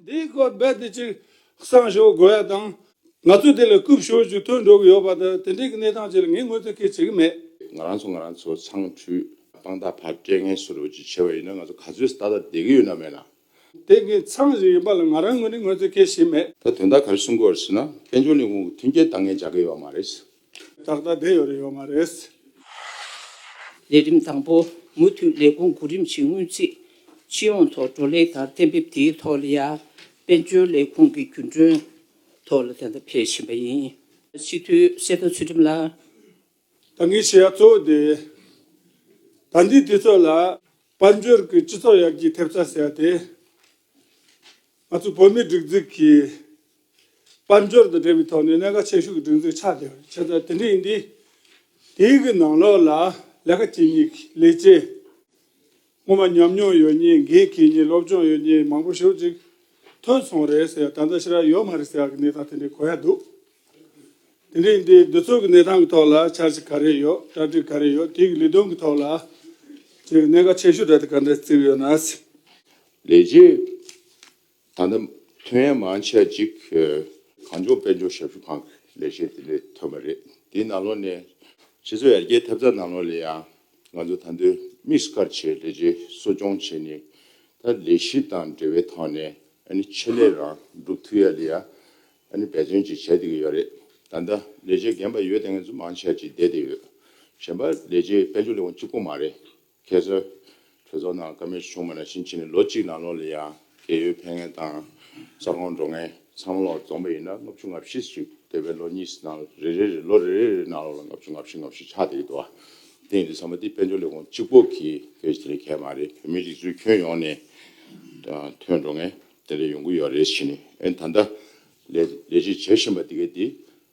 འདིའི་སྐོར་རྦད་དེ་གཅིག་གསང་ཞུ་དགོས་ཡ་དང། ང་ཚོས་དེ་ལ་རྐུབ་ཞོར་ཅིག་ཐོན་འགྲོ་གི་ཡོད་པ་དང་དེ་འབྲེལ་གྱི་གནས་སྟངས་བཅས་ལ་ངས་ངོས་འཛིན་སྐད་བྱེད་ཀྱི་མེད། ང་རང་ཚོ་ང་རང་ཚོ་ཚང་འཁྲུས། དཔང་རྟགས་ཕར་སྤྲད་ངེས་སུ་རུ་ཅིག་བྱས་པ་ཡིན་ན་ང་ཚོ་ག་ཚོད་ཏག་ཏག་བསྡད་ཀྱི་ཡོད་ན་མེད་ན། དེ་ངེད་ཚང་གཞིག་ཡིན་པ་ལ་ང་རང་ངོས་ནས་ངོས་འཛིན་སྐད་བྱེད་མེད། ད་དོན་དག་ག་རེ་གསུང་དགོས་བར་སྲིད་ན་དཔལ་འབྱོར་ལས་ཁུངས་ཀྱི་མཐུན་རྐྱེན་འདང་ངེས་བྱ་གི་ཡོད་པ་མ་རེད། ད་ལྟ་བསྡད་ཡོད་རེད་ཡོད་མ་རེད། ལས་རིམ་དང་པོ་མུ་མཐུད་ལས་ཁུངས་དགུ་རིམ་བཞིན་སྔོན་རྩིས་སྤྱི་ཡོངས་ཐོག་བགྲོ་གླེང་དང་གཏན་འབེབས་དེའི་ཐོག་ལ་ཡར་དཔལ་འབྱོར་ལས་ཁུངས་ཀྱི་རྒྱུན་གྲོན་ཐོག་ལ་དེ་ལྟར་འཕེལ་བཞིན་པ་ཡིན། སྤྱི་འཐུས་གསེར་རྟ་ཚུལ་ཁྲིམས་ལགས། ད་ངས་བྱས་ཡ་གཙོ་བོ་དེ། ད་འདི་དུས་ཚོད་ལ་དཔལ་འབྱོར་གྱི་སྤྱི་ཚོགས་ཡར་རྒྱས་ཐེབས་རྩ་ཟེར་ཡ་དེ། ང་ཚོའི་བོད་མིའི་སྒྲིག་འཛུགས་ཀྱི་དཔལ་འབྱོར་དང་འབྲེལ་བའི་ཐོག་ནས་གནད་འགག་ཆེ་ཤོས་ཀྱི་སྒྲིག་འཛུགས་ཆགས་བསྡད་པ་ཆེ་ས་དེ་འདྲ་ཡིན་དུས། དེའི་གི་ནང་ལོགས་ལ་ལས་ཀ་བྱེད་མྱི་གི་ལས་བྱེད། སྔོན་མ་ཉམས་མྱོང་ཡོད་མྱི་འགན་འཁྱེར་མྱི་སློབ་སྦྱོང་ཡོད་མྱི་མང་པོ་ཞོར་ཅིག་ཐོན་སོང་རེད་ཟེར་ཡ་ད་ལྟ་ཕྱི་ར་ཡོད་མ་རེད་ཟེར་ཡ་གི་གནས་སྟངས་དེ་འདྲ་གོ་ཡ་འདུག། དེ་རིང་འདིའི་འདུ་ཚོགས་ཀྱི་གནས་སྟངས་ཀྱི་ཐོག་ལ་འཆར་གཞི་ག་རེ་ཡོད་གྲ་སྒྲིག་ག་རེ་ཡོད་དེའི་ལས་དོན་གྱི་ཐོག་ལ་ཆེས་གནད་འགག་ཆེ་ཤོས་གྲ་སྒྲིག་ག་འདྲ་བརྩིས་ཡོད་ན། ལས་རྗེས་ད་ལྟ་ཐོན་ཡ་མང་ཆ་གཅིག་གངས་ལྗོངས་དཔལ་འབྱོར་ཞབས་ཞུ་ཁང་གི་ལས་བྱེད་དེ་འདྲས་ཐོན་པ་རེད་དེའི་ནང་ལོགས་ནས། ཕྱི་ཚོ་ཡར་རྒྱས་ཐེབས་རྩ་ནང་ལོགས་ལས་ཡང་ང་ཚོ་ད་འདོད་དམིགས་བཀར་བྱས་ལས་རྗེས་གསོ་སྐྱོང་བྱས་ནས་ད་ལས་གཞི་དང་འབྲེལ་བའི་ཐོག་ནས་ཨ་ནི་ཆེད་ལས་རང་སྒྲུབ་ཐུབ་ཡ་ལས་ཡ་ད་ནི་འབད་བརྩོན་ཅིག་བྱས་བསྡད་ཀྱི་ཡོད་རེད་ད་ལྟ་ལས་བྱེད་རྒན་པ་ཡོད་ལྟ་ངན་ཚུལ་མང་བྱས་ཅིག་བསྡད་བསྡད་ཡོད་གཞན་པ་ལས་བྱེད་དཔལ་འབྱོར་ལས་ཁུངས་གཅིག་པོ་མ་རེད་ཁྱེད་ཚོ་གྲོས་ཚོགས་ནང་ཀ་མེད་ཆུང་མ་ནང་བཞིན་བྱས་ནས་ལོ་གཅིག་ནང་ལོག་ལ་ཡང་རྒས་ཡོལ་འཕེན་ངན་དང་ས་ཁོངས་འགྲོ་ངན་ཚང་མ་ལོག་རྫོངས་པ་ཡིན་ན་ལྔ་བཅུ་ལྔ་བཞི་བཅུག་དེ་བས་ལོ་གཉིས་ནང་རེ་རེ་རེ་ལོ་རེ་རེ་རེ་ནང་ལོག་ལ་ལྔ་བཅུ་ལྔ་བཞི་ལྔ་བཞི་ཆགས་བསྡད་ཀྱི་འདུག་དེ་ཡིན་དུས་ཚང་མ་དེ་དཔལ་འབྱོར་ལས་ཁུངས་གཅིག་པོ་གིས་གལ་ཆེ་ནི་གལ་མ་རེད་བོད་མི་རིགས་ཚོའི་ཁྱོན་ཡོངས་ནས་ཐོན་འགྲོ་ངན། དེ་འདྲ་ཡོང་གི་ཡོད་རེད་བྱས་ནས་ཨེ་ད་ལྟ་ལས་ལས་གཞི་བྱེད་བཞིན་པ་དེ་གས་དེ་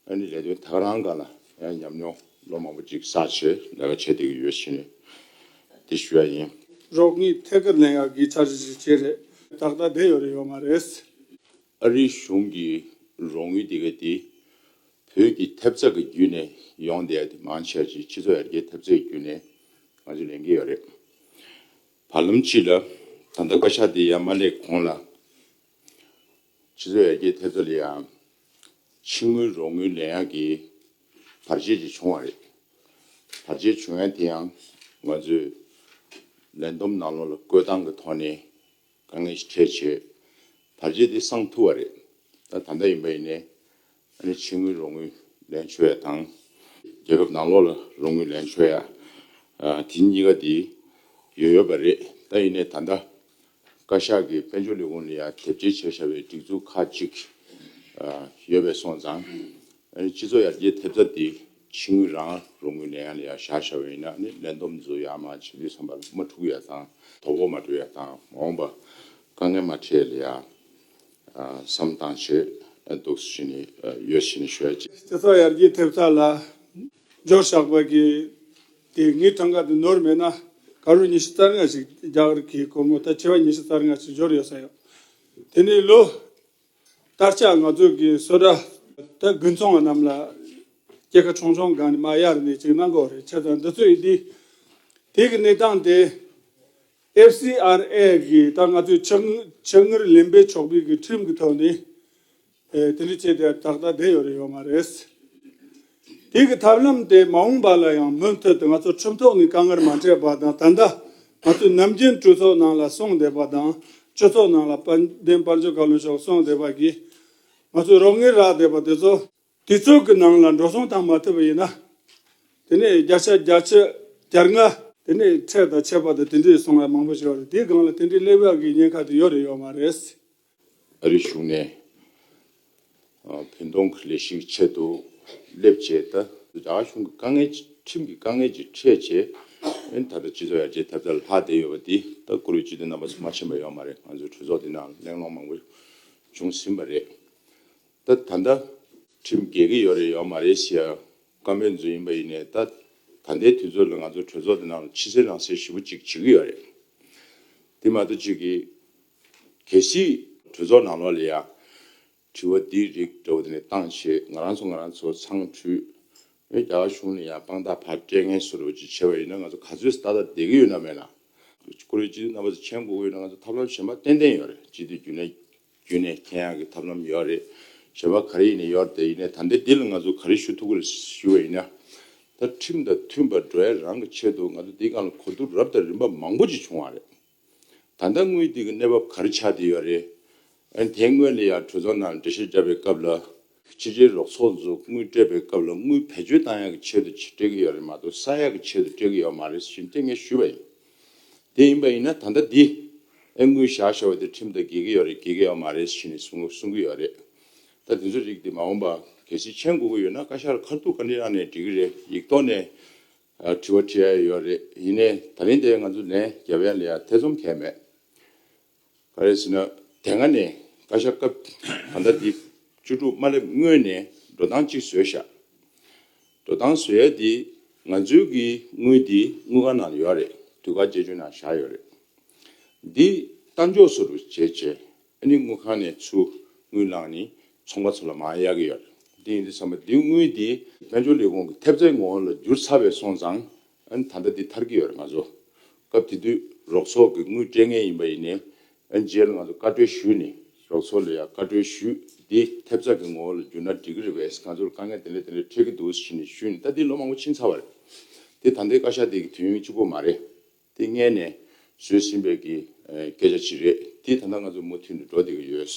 ཨེ་ནས་ལས་དོན་ཐག་རང་ག་ལ་ཡང་ཉམས་མྱོང་ལོ་མང་པོ་ཅིག་བསགས་བྱས་ལས་ཀ་བྱས་བསྡད་ཀྱི་ཡོད་བྱས་ནས་དེ་ཞུ་ཡ་ཡིན། རོགས་གཉིས་ཐད་ཀར་ལན་ཡག་གི་ཚར་གཅིག་བྱས་རེད། ཏག་ཏག་བསྡད་ཡོད་རེད་ཡོད་མ་རེད། ཨ་རིའི་གཞུང་གི་རོགས་དངུལ་དེ་གས་དེ་བོད་ཀྱི་ཐེབས་རྩ་གི་བརྒྱུད་ནས་ཡོང་བསྡད་དེ་མང་ཆེ་བ་ཅིག་སྤྱི་ཚོགས་ཡར་རྒྱས་ཐེབས་རྩའི་བརྒྱུད་ནས་ང་ཚོས་ལེན་གྱི་ཡོད་རེད། བར་ལམ་སྤྱི་ལ་ད་ལྟ་བཀའ་ཤག་འདི་ཡར་མ་སླེབས་གོང་ལ། སྤྱི་ཚོགས་ཡར་རྒྱས་ཐེབས་རྩ་ལ་ཡང་ཕྱི་དངུལ་རོགས་དངུལ་ལེན་ཡག་གི་བར་ཆད་ཅིག་བྱུང་བ་རེད། བར་ཆད་བྱུང་ཡག་དེ་ཡང་ང་ཚོས་ལས་བསྡོམས་ནང་ལོག་ལ་བཀོད་སྟངས་ཀྱི་ཐོག་ནས་དཀའ་ངལ་ཞིག་འཕྲད་བྱས། བར་ཆད་དེ་སངས་ཐུབ་བ་རེད། ད་ད་ལྟ་ཡིན་པ་ཡིན་ནས་ཨ་རིའི་ཕྱི་དངུལ་རོགས་དངུལ་ལེན་ཆོད་ཡ་དང། རྒྱལ་ཁབ་ནང་ལོགས་ལ་རོགས་དངུལ་ལེན་ཆོད་ཡ། དེ་གཉིས་ཀ་དེ་ཡོད་ཡོད་པ་རེད་ད་ཡིན་ནས་ད་ལྟ་བཀའ་ཤག་གི་དཔལ་འབྱོར་ལས་ཁུངས་ལ་ཡ་དེབ་སྐྱེལ་བྱས་བཞག་པའི་སྒྲིག་འཛུགས་ཁག་གཅིག་ཡོད་པས་སོང་ཙང་ཨ་རིའི་སྤྱི་ཚོགས་ཡར་རྒྱས་ཐེབས་རྩ་དེ་ཕྱི་དངུལ་རང་རོགས་དངུལ་ལེན་ཡ་ལ་ཡ་བཞག་བཞག་བ་ཡིན་ན་ནི་ལེན་འདོམས་བཟོ་ཡ་མ་བྱེད་དུས་ཚང་པ་ལ་མ་འཁྲུགས་ཡ་དང་དོ་ཕོག་མ་སྤྲོད་ཡ་དང་མ་འོངས་པ་དཀའ་ངལ་མ་འཕྲད་ཡ་ལ་ཡ། བསམ་དང་བྱེད་སྡུག་བྱས་ནས་ཡོད་བྱས་ནས་ཤོད། སྤྱི་ཚོགས་ཡར་རྒྱས་ཐེབས་རྩ་ལ་འཇོག་བཞག་པ་གིས་དེ་སྔའི་གྲངས་ཀ་དེ་ནོར་མེད་ན་ག་རུ་ཉི་ཤུ་རྩ་ལྔ་ཞིག་རྒྱག་རི་གི་གོར་མོ་ད་ཆེ་བ་ཉི་ཤུ་རྩ་ལྔ་ཞིག་འབྱོར་ཡོད་ས་ཡོད། དེ་ནི་ལོ་ལྟར་ཆགས་ང་ཚོ་གི་བསོད་གྲྭ་ད་དགུན་ཚོང་བ་རྣམས་ལ་སྐྱེ་ཁ་ཆུང་ཆུང་གང་ནས་མ་གཡར་ནས་ཅིག་གནང་གོ་རེ་ཆེ་ད་འདི་ཚོས་དེ་གི་གནས་སྟངས་དེ FCRA གིས་ད་ང་ཚོས་ཆ་ངར་ལེན་པའི་ཕྱོགས་ཕེབས་ཀྱི་ཁྲིམས་ཀྱི་ཐོག་ནས་དེ་འདྲ་བྱས་ཏེ་ད་ལྟ་བསྡད་ཡོད་རེད་ཡོད་མ་རེད། དེ་གི་ཐབས་ལམ་དེ་མ་འོངས་པ་ལ་ཡང་མུ་མཐུད་དུ་ང་ཚོ་ཁྲིམས་ཐོག་ནས་དཀའ་ངར་མ་སྤྲད་པ་དང་ད་ལྟ་ང་ཚོས་ནམ་རྒྱུན་གྲོས་ཚོགས་ནང་ལ་སོང་བསྡད་པ་དང་གྲོས་ཚོགས་ནང་ལ་དཔལ་ལྡན་དཔལ་འབྱོར་བཀའ་བློན་མཆོག་སོང་བསྡད་པ་གིས་ང་ཚོས་རོགས་ངེས་རག་བསྡད་པ་དེ་ཚོ། དུས་ཚོད་ཀྱི་ནང་ལ་འགྲོ་སོང་དང་མ་ཐུབ་པ་ཡིན་ན། དེ་ནས་བརྒྱ་ཆ་བརྒྱ་ཆ་བརྒྱ་ལྔ། དེ་ནས་ཚད་དང་ཆད་པ་དང་དེ་འདྲའི་སོང་བ་མང་པོ་ཞིག་ཡོད་རེད་དེའི་སྒང་ལ་དེ་འདྲའི་གླེང་བ་གི་ཉེན་ཁ་དེ་ཡོད་རེད་ཡོད་མ་རེད། ཨ་རིའི་གཞུང་ནས་བོད་གདོང་གི་ལས་ཤིག་ཆེད་དུ་སླེབས་རྗེས་ད། རྒྱ་གར་གཞུང་གི་དཀའ་ངལ་ཁྲིམས་ཀྱི་དཀའ་ངལ་གྱི་ཁྲལ་ཆེ། ཨན་ད་ལྟ་སྤྱི་ཚོགས་ཡར་རྒྱས་ཐབས་རྩ་ལ་ལྷག་བསྡད་ཡོད་པ་དེ་ལྟ་བཀུར་བའི་སྤྱི་དོན་རྣམ་པ་ཚང་མ་ཕྱིན་པ་ཡོད་མ་རེད་ང་ཚོའི་གྲོས་ཚོགས་འདི་ནང་གླེང་སློང་མང་པོ་བྱུང་ཟིན་པ་རེད། ད་ད་ལྟ་ཁྲིམས་འགལ་གི་ཡོད་རེད་ཡོད་མ་རེད་ཞེས་བཀའ་མོལ་མཛོད་ཡིན་པ་ཡིན་ནས་ད་ད་ལྟའི་དུས་ཚོད་ལ་ང་ཚོ་གྲོས་ཚོགས་དེ་ནང་ལ་ཕྱི་གསལ་ནང་གསལ་ཞིབ་པོ་གཅིག་བྱེད་ཀྱི་ཡོད་རེད། དེ་མ་གཏོགས་ཅིག་གིས་གལ་སྲིད། གྲོས་ཚོགས་ནང་ལོགས་ལ་ཡང་དྲི་བ་འདི་རིགས་འདྲ་བོ་དེ་ནས་བཏང་ཞེས་ང་རང་ཚོ་ང་རང་ཚོ་ཚང་ཁྲུས། བོད་རྒྱ་གར་གཞུང་ནས་ཡང་དཔང་རྟགས་ཕར་སྤྲད་མཁན་སུ་རེད་བོ་ཅིག་བྱས་པ་ཡིན་ན་ང་ཚོ་ག་ཚོད་ཏག་ཏག་བསྡད་ཀྱི་ཡོད་ན་མེད་ན། ཀུ་རེ་སྤྱི་འཐུས་རྣམ་པ་ཚོ་མཆན་འགོད་ཀྱི་ཡོད་ན་ང་ཚོ་ཐབས་ལམ་གཞན་པ་ཏན་ཏན་ཡོད་རེད་སྤྱི་འཐུས་རྒྱུན་ལས། རྒྱུན་ནས་མཁྱེན་ཡག་གི་ཐབས་ལམ་ཡོད་རེད་ཞེས་པ་ག་རེ་ཡིན་ནི་ཡོད་རེད་དེ་ཡིན་ནས་ད་ལྟའི་འདི་ལ་ང་ཚོ་ག་རེ་ཞུ་ཐུབ་གི་རེད་ཞུ་བ་ཡིན་ན། ད་ཁྲིམས་དང་མཐུན་པར་འགྲོ་ཡ་རང་གི་ཆེད་དུ་ང་ཚོ་འདི་སྒང་ལ་གོ་བསྡུར་རབ་དང་རིམ་པ་མང་པོ་ཅིག་བྱུང་བ་རེད། ད་ལྟ་དངུལ་དེ་གི་གནས་བབ་ག་རེ་ཆགས་བསྡད་ཡོད་རེད། ཨན་དེ་སྔོན་ལ་ཡང་གྲོས་ཚོགས་ནང་འགྲེལ་བཤད་བརྒྱབ་པའི་སྐབས་ལ། སྤྱི་བདེའི་རོགས་ཚོགས་འཛུགས་དངུལ་སྤྲད་པའི་སྐབས་ལ་དངུལ་བེད་སྤྱོད་ཏང་ཡག་གི་ཆེད་དུ་སྤྲད་ཀྱི་ཡོད་རེད་མ་གཏོགས་ས་ཡག་གི་ཆེད་དུ་སྤྲད་ཀྱི་ཡོད་མ་རེད་ཟེར་གྱིན་ལྟས་ངན་ཞུས་པ་ཡིན། དེ་ཡིན་པ་ཡིན་ན་ད་ལྟ་འདི་ཨེ་དངུལ་བཞག་ཤོག་དེ་ཁྲིམས་ལྟར་འགེལ་གྱི་ཡོད་རེད་འགེལ་གྱི་ཡོད་མ་རེད་ཟེར་གྱིན་གསུང་གི་ཡོད་རེད། ད་དེ་ཚོའི་རིགས་དེ་མ་འོངས་པ་གལ་སྲིད་མཆན་དགོས་ཀྱི་ཡོད་ན་བཀའ་ཤག་ལ་ཁ་ཐུག་བཀའ་འདྲི་གནང་ནས་འདྲི་གི་རེད་ཡིག་ཐོག་ནས་དྲི་བ་དྲི་ཡ་ཡོད་རེད་ཡིན་ནས་ད་རིང་དེ་ང་ཚོ་ལན་རྒྱབ་ཡ་ལེ་ཡ་ཐེ་ཚོམ་གལ་མེད། ག་རེ་ཟེར་ན་དེ་སྔ་ནས་བཀའ་ཤག་སྐབས་ད་ལྟ་འདི་བཅུ་དྲུག་མ་སླེབས་སྔོན་ནས་འགྲོ་སྟངས་གཅིག་བཟོས་བཞག་འགྲོ་སྟངས་བཟོས་ཡས་དེ་ང་ཚོའི་གི་དངུལ་དེ་དངུལ་ཁང་ནང་ཡོད་རེད་དུས་བཀག་བཅད་གཅོད་ནང་བཞག་ཡོད་རེད་འདི་ལྟ་མགྱོགས་སུ་རུ་བྱས་རྗེས་ཨ་ནི་དངུལ་ཁང་ནས་ཚུར་དངུལ་བླངས་ནི་ཚོང་པ་ཚོ་ལ་མང་ཡག་གི་ཡོད་རེད་འདི་ཡིན་དུས་བསམ་པ་འདི་དངུལ་དེ་དཔལ་འབྱོར་ལས་ཁུངས་ཀྱི་ཐེབས་རྩའི་ངོ་བོ་ལ་འགྱུར་ཚར་བས་སོང་ཙང་ཨན། ད་ལྟ་འདི་ཐར་གྱི་ཡོད་རེད་ང་ཚོ། སྐབས་དེ་དུས་རོགས་ཚོགས་ཀྱི་དངུལ་སྤྲད་ངེས་ཡིན་པ་ཡིན། ཨན། རྗེས་ལ་ང་ཚོ་བཀའ་འཁྲོལ་ཞུས་ནས་རོགས་ཚོགས་ལ་ཡང་བཀའ་འཁྲོལ་ཞུས། འདི་ཐེབས་རྩ་གི་ངོ་བོ་ལ་བསྒྱུར་ན་འགྲིག་གི་རེད་བས་ང་ཚོར་དཀའ་ངལ་དེ་འདྲ་དེ་འདྲ་འཕྲད་ཀྱི་འདུག་ཟེར་ནས་ཞུས་ནས་ད་འདི་ལོ་མང་པོ་ཕྱིན་ཚར་བ་རེད། དེ་ད་ལྟའི་བཀའ་ཤག་དེ་གི་དུས་ཡུན་གཅིག་པོ་མ་རེད། དེ་མངལ་ནས་བཟོས་ཟིན་པའི་གི་སྐད་ཆ་ཞིག་རེད། དེ་ད་ལྟ་ང་ཚོ་མུ་མཐུད་ནས་འགྲོ་བསྡད་ཀྱི་ཡོད།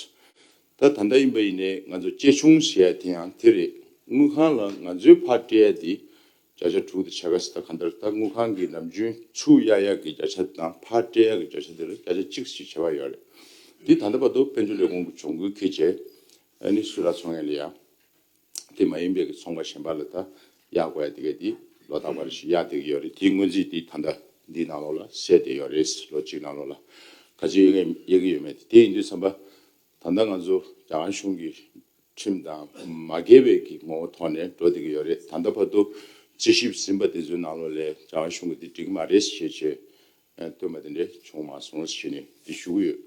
ད་ད་ལྟ་ཡིན་པ་ཡིན་ནས་ང་ཚོ་གཅེས་ཆུང་ཟེར་ཡ་དེ་ཡང་དེ་རེད། དངུལ་ཁང་ལ་ང་ཚོའི་ཕར་སྤྲད་ཡ་དེ་བརྒྱ་ཆ་དྲུག་དེ་བྱ་དགའ་སྲི་ད་ག་འདིར་ལྟ་དངུལ་ཁང་གི་ནམ་རྒྱུན་ཆུ་གཡར་ཡག་གི་བརྒྱ་ཆ་དེ་དང་ཕར་སྤྲད་ཡག་གི་བརྒྱ་ཆ་དེར་བརྒྱ་ཆ་གཅིག་ཞིག་བྱེད་པ་ཡོད་རེད། འདི་ད་ལྟ་བར་དུ་དཔལ་འབྱོར་ལས་ཁུངས་ཀྱི་གྱོང་གུད་ཁེ་ཆེ། ཨ་ནི་སུ་ར་ཚོང་ཡ་ལི་ཡ། དེ་མ་ཡིན་པའི་གི་ཚོང་པ་གཞན་པ་ལ་ད་གཡར་དགོས་ཡ་དེ་གའི་དེ་ལོ་རྟག་པར་ཞིག་གཡར་བསྡད་ཀྱི་ཡོད་རེད་དེའི་སྔོན་རྩིས་དེ་ད་ལྟ་འདིའི་ནང་ལོགས་ལ་གསལ་བསྡད་ཡོད་རེད། ལོ་གཅིག་ནང་ལོགས་ལ་ག་ཚོད་གཡར་གི་ཡོད་མེད་དེ་དེ་ཡིན་དུས་བསམ་པ། ད་ལྟ་ང་ཚོ་རྒྱ་གར་གཞུང་གི་ཁྲིམས་དང་མ་འགལ་བའི་གི་ངོ་བོ་ཐོག་ནས་འགྲོ་བསྡད་ཀྱི་ཡོད་རེད་ད་ལྟ་བར་དུ་དཔྱད་ཞིབ་ཟིན་པ་དེ་ཚོའི་ནང་ལོ་ལས་རྒྱ་གར་གཞུང་གི་དེ་འགྲིག་གི་མ་རེད་ཞེས་ཆེ་བཏོན་པ་དེ་འདྲས་བྱུང་མ་སོང་ཞེས་ནས་དེ་ཞུ་གི་ཡོད།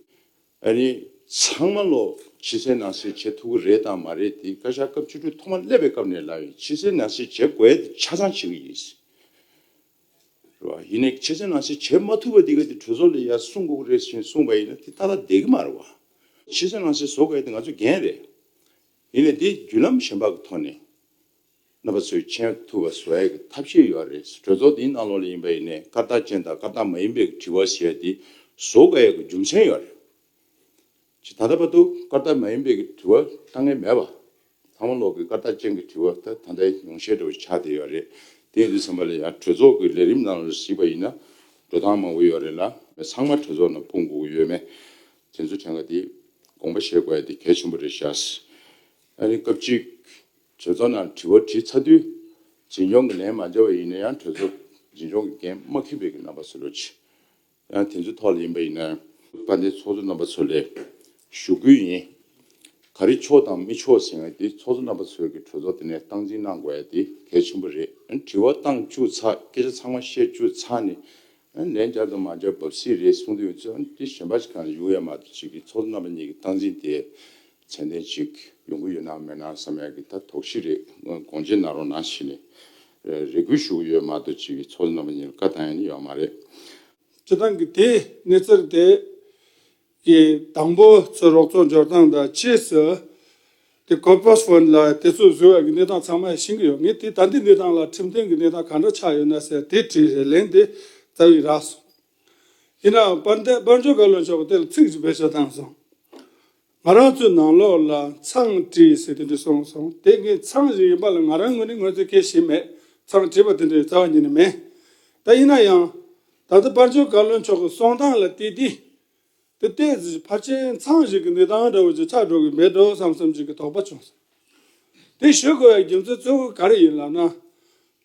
ཨ་རི་ཚང་མ་ལོ་ཕྱི་གསལ་ནང་གསལ་བྱེད་ཐུབ་ཀྱི་རེད་དང་མ་རེད་དེ་བཀའ་ཤག་སྐབས་བཅུ་དྲུག་ཐོག་མ་སླེབས་པའི་སྐབས་ནས་ལ་ཡིན་ཕྱི་གསལ་ནང་གསལ་བྱེད་དགོས་ཆ་ཚང་བྱེད་ཀྱི་ཡིན། ཡིན་ནའི་ཁྱེད་ཅག་ནང་བཞིན་བྱེད་མ་ཐུབ་པ་འདི་ག་དེ་གྲོས་ཚོགས་ལས་ཡར་གསུངས་དགོས་རེད་ཞེས་གསུངས་པ་ཡིན་ན་དེ་ད་ལྟ་བསྡད་ཀྱི་མ་རེད་བ། ཁྱེད་ཅག་ནང་བཞིན་བཟོ་དགོས་ཡ་དེ་ང་ཚོའི་འགན་རེད། ཡིན་ནའི་དེ་བརྒྱུད་ལམ་གཞན་དག་གི་ཐོག་ནས་རྣམ་པ་ཚོས་མཁྱེན་ཐུབ་པ་བཟོ་ཡ་གི་ཐབས་ཤེས་ཡོད་རེད་གྲོས་ཚོགས་འདིའི་ནང་ལོགས་ལས་ཡིན་པ་ཡིན་ནའི་སྐར་རྟགས་ཅན་དང་སྐར་རྟགས་མ་ཡིན་པའི་དྲི་བ་བྱེད་ཡ་དེ་བཟོ་དགོས་ཡ་གི་རྒྱུ་མཚན་ཡོད་རེད། ཇི་ལྟར་རབ་པ་དུ་སྐར་ལྟར་མ་ཡིན་པའི་གི་དྲི་བ་ལྟ་ངན་མེད་པ། ཐང་མོ་ལོག་གི་སྐར་ལྟར་ཅན་གི་དྲི་བ་ལྟ་ད་ལྟའི་ཉུང་ཤས་འདྲ་བོ་ཆགས་བསྡད་ཡོད་རེད། དེ་འདི་ཚང་མ་ལ་ཡང་གྲོས་ཚོགས་ཀྱི་ལས་རིམ་ནང་ལ་གཟིགས་པ་ཡིན་ན་འགྲོ་སྟངས་མང་བོ་ཡོད་རེད་ལ། ཚང་མ་གྲོས་ཚོགས་ནང་སྤུངས་དགོས་ཀྱི་ཡོད་མེད་དེ་ཚོ་དེ་འགའ་དེ་དགོངས་པ་བཞེས་དགོས་ཡ་དེ་གལ་ཆེན་པོ་རེད་ཤག། ཨ་རིའི་སྐབས་གཅིག་གྲོས་ཚོགས་ནང་དྲི་བ་དྲིས་ཚར་དུས་འཛིན་སྐྱོང་གི་ལན་མ་འདེབས་པ་ཡིན་ན་ཡང་གྲོས་ཚོགས་འཛིན་སྐྱོང་གི་འགན་མ་ཁུར་བའི་གི་རྣམ་པ་གསལ་བོ་ཆེ་དེ་ཚོའི་ཐོག་ལ་ཡིན་པ་ཡིན་ན། བཀའ་བསྟན་ཚོགས་གཙོ་རྣམ་པ་ཚོ་ལས་ཞུ་སྐུལ་ཡིན། ག་རེ་ཆོག་དང་མི་ཆོག་ཟེར་ཡང་དེ་ཚོགས་གཙོ་རྣམ་པ་ཚོས་ཀྱི་གྲོས་ཚོགས་དེ་ནས་སྟངས་འཛིན་གནང་དགོས་ཡ་དེ་གལ་ཆེན་པོ་རེད། དྲི་བ་བཏང་བཅུག་ཚ་སྐད་ཆ་ཚང་མ་བཤད་བཅུག་ཚ་ནི། ལན་བརྒྱབ་དང་མ་བརྒྱབ་བབས་སྲིད་རེད་གསུང་དུ་ཡོད་ཚོད་དེ་གཞན་པ་ཞིག་གང་ལ་ཡོང་ཡ་མ་གཏོགས་ཅིག་གི་ཚོགས་གཙོ་རྣམ་པ་གཉིས་ཀྱི་སྟངས་འཛིན་དེ་ཚད་ལྡན་ཅིག་ཡོང་གི་ཡོད་ནའང་མེད་ནའང་བསམ་ཡ་གི་ད་དོགས་གཞི་རེད་དགོངས་འཇེ་གནང་རོགས་གནང་བྱས་ནས་རེ་སྒུག་བཞུགས་ཡོད་མ་འདུག་ཅིག་ཚོགས་གནང་བ་ཉིད་ལ་བཀའ་བཏང་ཡོད་ནི་ཡོད་མ་རེད། སྤྱི་བཏང་གི་དེ་གནས་ཚུལ་དེ་གི་དང་པོ་ཚོས་རོགས་ཚོགས་འབྱོར་སྟངས་དང་ཕྱིས་སུ་དེ་ཁོ་པོས་བོན་ལ་དེ་ཚོས་བཟོས་བའི་གི་གནས་སྟངས་ཚང་མ་ཡང་ཤེས་གི་ཡོད་ངས་དེ་ད་འདི་གནས་སྟངས་ལ་ཁྲིམས་དོན་གི་གནས་སྟངས་གང་འདྲ་ཆགས་ཡོད་ན་ཟེར་དེ་དྲིས་རེ་ལན་དེ་རྩ་བའི་རགས་སོང། ཡིན་ནའང་དཔལ་ལྡན་དཔལ་འབྱོར་བཀའ་བློན་མཆོག་གི་དེ་ལ་ཚིག་ཅིག་བེད་སྤྱོད་བཏང་སོང། ང་རང་ཚོའི་ནང་ལོགས་ལ་མཚང་བྲིས་ཟེར་དེ་འདྲ་བྱུང་སོང་དེ་ངའི་མཚང་ཞིག་ཡིན་པ་ལ་ང་རང་ངོས་ནས་ངོས་འཛིན་སྐྱེ་བཞིན་མེད་མཚང་བྲིས་པ་དེ་འདྲ་ཡོད་རྩ་བ་ཉིད་ནས་མེད་ད་ཡིན་ན་ཡང། ད་ལྟ་དཔར་བརྗོད་བཀའ་བློན་མཆོག་གི་གསུང་སྟངས་ལ་བལྟས་དུས། དེ་ལྟའི་ཕར་ཆེར་མཚང་ཞིག་གི་འདི་སྟངས་འདྲ་བོ་ཅིག་ཆགས་འགྲོ་གི་མེད་འགྲོ་བསམ་བསམ་ཅིག་གི་དོགས་པ་བྱུང་སོང། དེ་ཞུ་དགོས་པའི་རྒྱུ་མཚན་གཙོ་བོ་ག་རེ་ཡིན་ལབ་ན།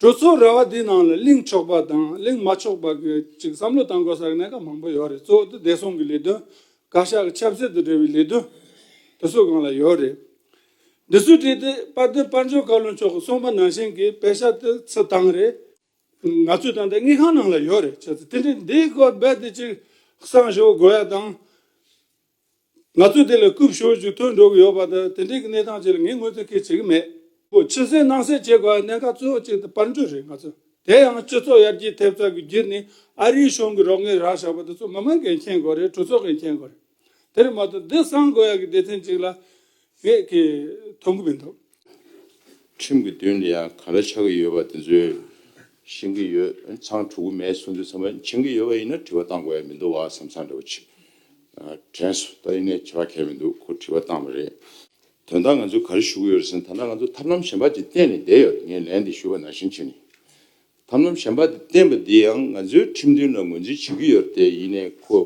གྲོས་ཚོགས་ར་བ་དེའི་ནང་ལ་གླེང་ཆོག་པ་དང་གླེང་མ་ཆོག་པ་གི་ཅིག་བསམ་བློ་བཏང་དགོས་ས་གནས་ཀ་མང་པོ་ཡོད་རེད་གཙོ་བོ་དུ་བདེ་སྲུང་གི་ལས་དོན་བཀའ་ཤག་གི་ཆབ་སྲིད་དུ་འབྲེལ་བའི་ལས་དོན་དེ་ཚོ་གང་ལ་ཡོད་རེད། འདི་ཚོའི་གྲས་དེ་དཔལ་ལྡན་དཔལ་འབྱོར་བཀའ་བློན་མཆོག་གི་གསུང་པ་ནང་བཞིན་གྱི་དཔེ་ཆ་དེ་ཚོ་བཏང་རེད། ང་ཚོའི་ད་ལྟའི་དངུལ་ཁང་ནང་ལ་ཡོད་རེད་ཁྱེད་ཚོ་དེ་འདྲའི་འདིའི་སྐོར་རྦད་དེ་ཅིག་གསང་ཞོག་དགོས་ཡ་དང། ང་ཚོས་དེ་ལ་རྐུབ་ཞོར་ཞིག་ཐོན་འགྲོ་གི་ཡོད་པ་དང་དེ་འབྲེལ་གྱི་གནས་སྟངས་བཅས་ལ་ངས་ངོས་འཛིན་ཁས་བྱེད་ཀྱི་མེད། ཕྱི་གསལ་ནང་གསལ་བྱེད་དགོས་པའི་གནད་འགག་གཙོ་བོ་གཅིག་དེ་དཔལ་འབྱོར་རེད་ང་ཚོ་དེ་ཡང་སྤྱི་ཚོགས་ཡར་རྒྱས་ཐེབས་རྩ་གི་རྒྱུ་ནི་ཨ་རིའི་གཞུང་གི་རོགས་དངུལ་རག་བཞག་པ་དེ་ཚོ་མི་མང་གིས་མཁྱེན་དགོས་རེད་གྲོས་ཚོགས་ཀྱིས་མཁྱེན་དགོས་རེད་དེར་མ་གཏོགས་འདི་གསང་དགོས་ཡག་གི་སྡེ་ཚན་གཅིག་ལ། ངས་དེ་མཐོང་གི་མི་འདུག། ཁྲིམས་ཀྱི་མདུན་དུ་ཡང་ག་རེ་ཆགས་ཀྱི་ཡོད་པ་དེ་ཚོའི་ཤེས་ཀྱི་ཡོད། ཚང་དྲུག་མའི་གསུང་ཚིག་ཚང་མ་མཁྱེན་གྱི་ཡོད་པ་ཡིན་ན་དྲི་བ་བཏང་དགོས་ཡ་མི་འདུག་བ་བསམ་ཚང་འདྲ་བོ་ཆེ། དྲན་སོ་ད་ཡིན་ནས་ཁྱེད་ལ་ཁྱད་མི་འདུག་ཁོ་དྲི་བ་བཏང་བ་རེད། དོན་དག་ང་ཚོས་ག་རེ་ཞུ་གི་ཡོད་རེད་ཟེར་ན་ད་ལྟ་ང་ཚོ་ཐབས་ལམ་གཞན་པ་དེ་བསྟེན་ནས་བསྡད་ཡོད་ངས་ལན་དེ་ཞུས་པ་ནང་བཞིན་བྱས་ནས། ཐབས་ལམ་གཞན་པ་དེ་བསྟེན་པ་དེ་ཡང་ང་ཚོའི་ཁྲིམས་མཐུན་ལ་ངོས་འཛིན་བྱེད་ཀྱི་ཡོད་རེད་དེ་ཡིན་ནས་ཁོ་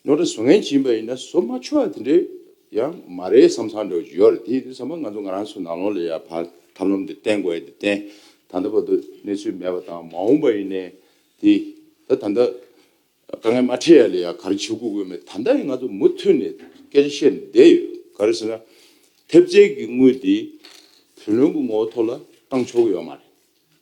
ནོར་དང་བཟོ་ངན་བྱིན་པ་ཡིན་ན་བཟོ་མ་ཆོག་དེ་འདྲས་ཡང་མ་རེད་བསམ་བསམ་འདྲ་བྱུང་ཡོད་རེད་དེ་བསམ་པ་ང་ཚོ་ང་རང་ཚོའི་ནང་ལོག་ལ་ཡང་བར་ཐབས་ལམ་དེ་བསྟེན་དགོས་ཡ་དེ་བསྟེན་ད་ལྟ་བར་དུ་གནས་ཚུལ་མེད་པ་དང་མ་འོངས་པ་ཡིན་ནའི་དེ་ད་ད་ལྟ་དཀའ་ངལ་མ་འཕྲད་ཡ་ལ་ཡང་ག་རེ་བྱེད་དགོས་དགོས་མེད་ད་ལྟ་ཡང་ང་ཚོ་མུ་མཐུད་ནས་སྐད་ཆ་བཤད་ནས་བསྡད་ཡོད་ག་རེ་ཟེར་ན་ཐེབས་རྩལ་གྱི་དངུལ་དེ་བུ་ལོན་གྱི་ངོ་བོ་ཐོག་ལ་བཏང་ཆོག་གི་ཡོད་མ་རེད།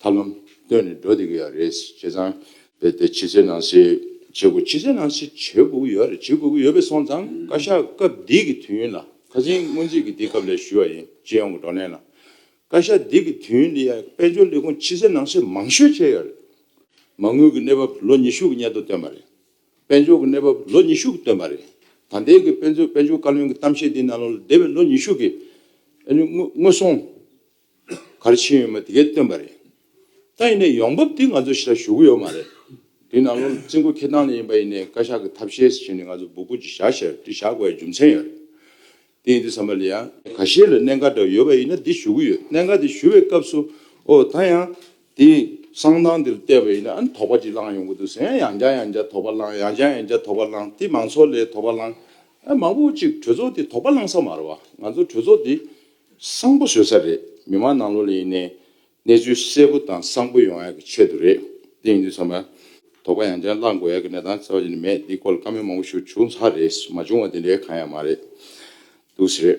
ཐབས་ལམ་བཏོན་ནས་འགྲོ་བསྡད་ཀྱི་ཡོད་རེད་བྱས་ཙང། དེ་དེ་ཕྱི་ཚེས་ནང་བྱེད་དགོས་ཕྱི་ཚེས་ནང་བྱེད་དགོས་ཀྱི་ཡོད་རེད་བྱེད་དགོས་ཀྱི་ཡོད་པས་སོང་ཙང་བཀའ་ཤག་སྐབས་འདི་གི་དུས་ཡུན་ལ་ཁ་ཟིན་སྔོན་རྩིས་ཀྱི་འདི་སྐབས་ལས་ཞུས་བ་ཡིན་སྤྱི་ཡོངས་ཀྱི་བགྲོ་གླེང་ལ། བཀའ་ཤག་འདི་གི་དུས་ཡུན་འདི་ཡང་དཔལ་འབྱོར་ལས་ཁུངས་ཕྱི་ཚེས་ནང་བྱེད་མང་ཤོས་བྱས་ཡོད་རེད། མ་དངུལ་གྱི་གནས་བབ་ལོ་ཉི་ཤུ་གྱི་སྙན་ཐོ་བཏོན་པ་རེད། དཔལ་འབྱོར་གྱི་གནས་བབ་ལོ་ཉི་ཤུ་གྱི་བཏོན་པ་རེད། ད་ལྟའི་གི་དཔལ་འབྱོར་བཀའ་བློན་གྱི་གཏམ་བཤད་འདི་ནང་ལོ་འདས་པའི་ལོ་ཉི་ཤུ་གྱི་དངུལ་སོང། གར་ཕྱིན་ཡོད་མོད་དེ་གས་སྟོན་པ་རེད། ད་ཡིན་ནས་ཡོང་འབབ་དེ་ང་ཚོ་ཤི་ལ་ཞུ་གི་ཡོད་མ་རེད། དེའི་ནང་ལོར་རྩིས་འགོ་ཁེ་སྟངས་ལས་ཡིན་པ་ཡིན་ནས་བཀའ་ཤག་གི་ཐབས་ཤེས་སུ་བྱས་ནས་ང་ཚོ་འབོད་སྐུལ་གྱི་བྱ་ཞེར་དེ་བཞག་དགོས་པའི་རྒྱུ་མཚན་ཡོད་རེད། དེ་ཡིན་དུས་ས་མ་ལི་ཡ། ག་ཤེད་ལ་གནད་འགག་འདྲ་ཡོད་པ་ཡིན་ན་དེ་ཞུ་གི་ཡོད་གནད་འགག་དེ་ཞུ་བའི་སྐབས་སུ་ཨོ་ད་ཡང་དེ་གསང་སྟངས་དེར་བལྟས་པ་ཡིན་ན་ཨ་དོགས་པ་ཅིག་བསླངས་ཡོང་གི་འདུག་ཟེར་ཡང་ཡང་བསྐྱར་ཡང་བསྐྱར་དོགས་པ་བསླངས་ཡང་བསྐྱར་ཡང་བསྐྱར་དོགས་པ་བསླངས་དེ་མང་ཚོགས་ལས་དོགས་པ་བསླངས། མང་པོ་ཅིག་གྲོས་ཚོགས་དེ་དོགས་པ་བསླངས་ས་མ་རེད་བ། ང་ཚོ་གྲོས་ཚོགས་དེ་བཟང་པོ་བཟོས་ས་རེད་མི་མང་ནང་ལོག་ལ་ཡིན་ནའི་གནས་ཚུལ་གསལ་པོ་དང་བཟང་པོ་ཡོང་ཡག་གི་ཆེད་དུ་རེད་དེ་ཡིན་དུས་ཚང་མ་དོག་པ་ཡང་ཅན་བླངས་དགོས་ཡག་གི་གནས་སྟངས་གསལ་བ་ཅི་ནས་མེད་འདི་སྐོར་ལ་བཀའ་མོལ་མང་པོ་ཞུ་བྱུང་ས་རེད་མ་བྱུང་བ་དེ་འདྲའི་གང་ཡང་མ་རེད་འདུག་ཟེར་རེད་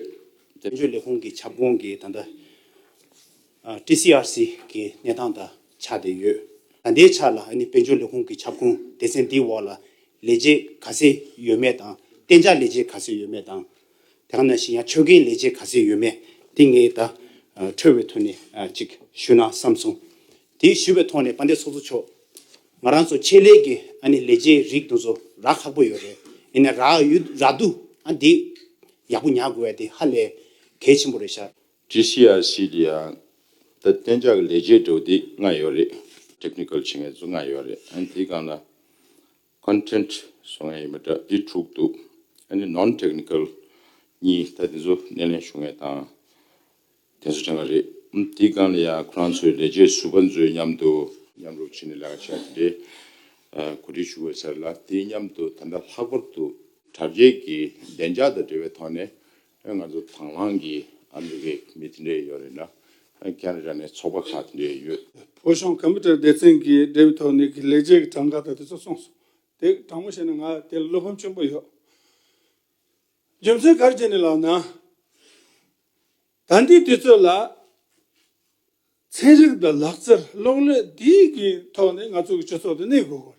དེ། དཔལ་འབྱོར་ལས་ཁུངས་ཀྱི་ཁྱབ་ཁོངས་ཀྱི་ད་ལྟ TCRC གི་གནས་སྟངས་དང་ཆགས་བསྡད་ཡོད། ད་ལྟའི་ཆ་ལ་ཨ་ནི་དཔལ་འབྱོར་ལས་ཁུངས་ཀྱི་ཁྱབ་ཁོངས་སྡེ་ཚན་འདིའི་འོག་ལ་ལས་བྱེད་ག་ཚད་ཡོད་མེད་དང་གཏན་འཇགས་ལས་བྱེད་ག་ཚད་ཡོད་མེད་དང། དེ་ག་ནང་བཞིན་ཡང་ཆོལ་ཁའི་ལས་བྱེད་ག་ཚད་ཡོད་མེད་དེ་ངས་ད་ཁྲོལ་བའི་ཐོག་ནས་ཅིག་ཞུས་ན་བསམ་སོང། དེ་ཞུས་པའི་ཐོག་ནས་དཔའ་འདས་ཚོགས་གཙོ་མཆོག། ང་རང་ཚོ་ཆེད་ལས་ཀྱི་ཨ་ནི་ལས་བྱེད་རིགས་དུ་ཚོ་རག་ཁག་པོ་ཡོད་རེད་ཡིན་ནའི་རག་ཡོད་རག་འདུག་ཨ་འདི་ཡག་པོ་ཉག་དགོས་ཡ་དེ་ཧ་ལས་གལ་ཆེན་པོ་རེད་ཤག། ཀྲི་སི་ཡ་སི་དེ་ཡང་ད་གཏན་འཇགས་ཀྱི་ལས་བྱེད་འགྲོ་དེ་ལྔ་ཡོད་རེད Technical བྱེད་མཁན་ཚོ་ལྔ་ཡོད་རེད་ཨ་ནི་དེ་ག་ནང། Content སོགས་ངས་ཡིན་པ་འདྲ་འདི་དྲུག་འདུག་ཨ་ནི Non Technical གཉིས་ད་དེ་ཚོ་སྣེ་ལེན་ཞུ་ངེས་དང་དེ་ཚོ་དྲན་ག་རེད་དེའི་སྒང་ལ་ཡང་ཁོ་རང་ཚོའི་ལས་བྱེད་ཟུར་པ་ཚོའི་མཉམ་དུ་མཉམ་རུབ་བྱེད་ནས་ལས་ཀ་བྱས་དེ་འདྲའི་གོ་སྒྲིག་ཞུ་དགོས་ཟེར་ལ་དེའི་མཉམ་དུ་ད་ལྟ་ལྷག་པར་དུ་དྲ་རྒྱའི་གི་བདེ་འཇགས་དང་འབྲེལ་བའི་ཐོག་ནས་ང་ཚོ་དང་བླངས་ཀྱི་ཨ་མི་རི་ཀའི་མི་དེ་འདྲས་ཡོད་རེད་ན། ཀན་ར་ར་ནས་ཚོགས་པ་ཁག་དེ་འདྲས་ཡོད། བོད་གཞུང་ཀམ་པུ་ཏར་སྡེ་ཚན་གྱི་འབྲེལ་བའི་ཐོག་ནས་ཀྱི་ལས་བྱེད་ཀྱི་གྲངས་ཀ་དང་དེ་ཚོ་གསུངས་སོང། དེ་དྲང་མོ་བཤད་ན་ང་དེ་ལ་བློ་ཕམ་ཆེན་པོ་ཡོད། རྒྱུ་མཚན་ག་རེ་བྱས་ནས་ལགས་ན། དམ་འདི་དེ་ཚོ་ལ། ཚན་རིག་དང་ལག་རྩལ་གློག་ཀླད་འདིའི་གི་ཐོག་ནས་ང་ཚོ་གི་སྤྱི་ཚོགས་དེ་གནས་དགོས་དགོས་རེད།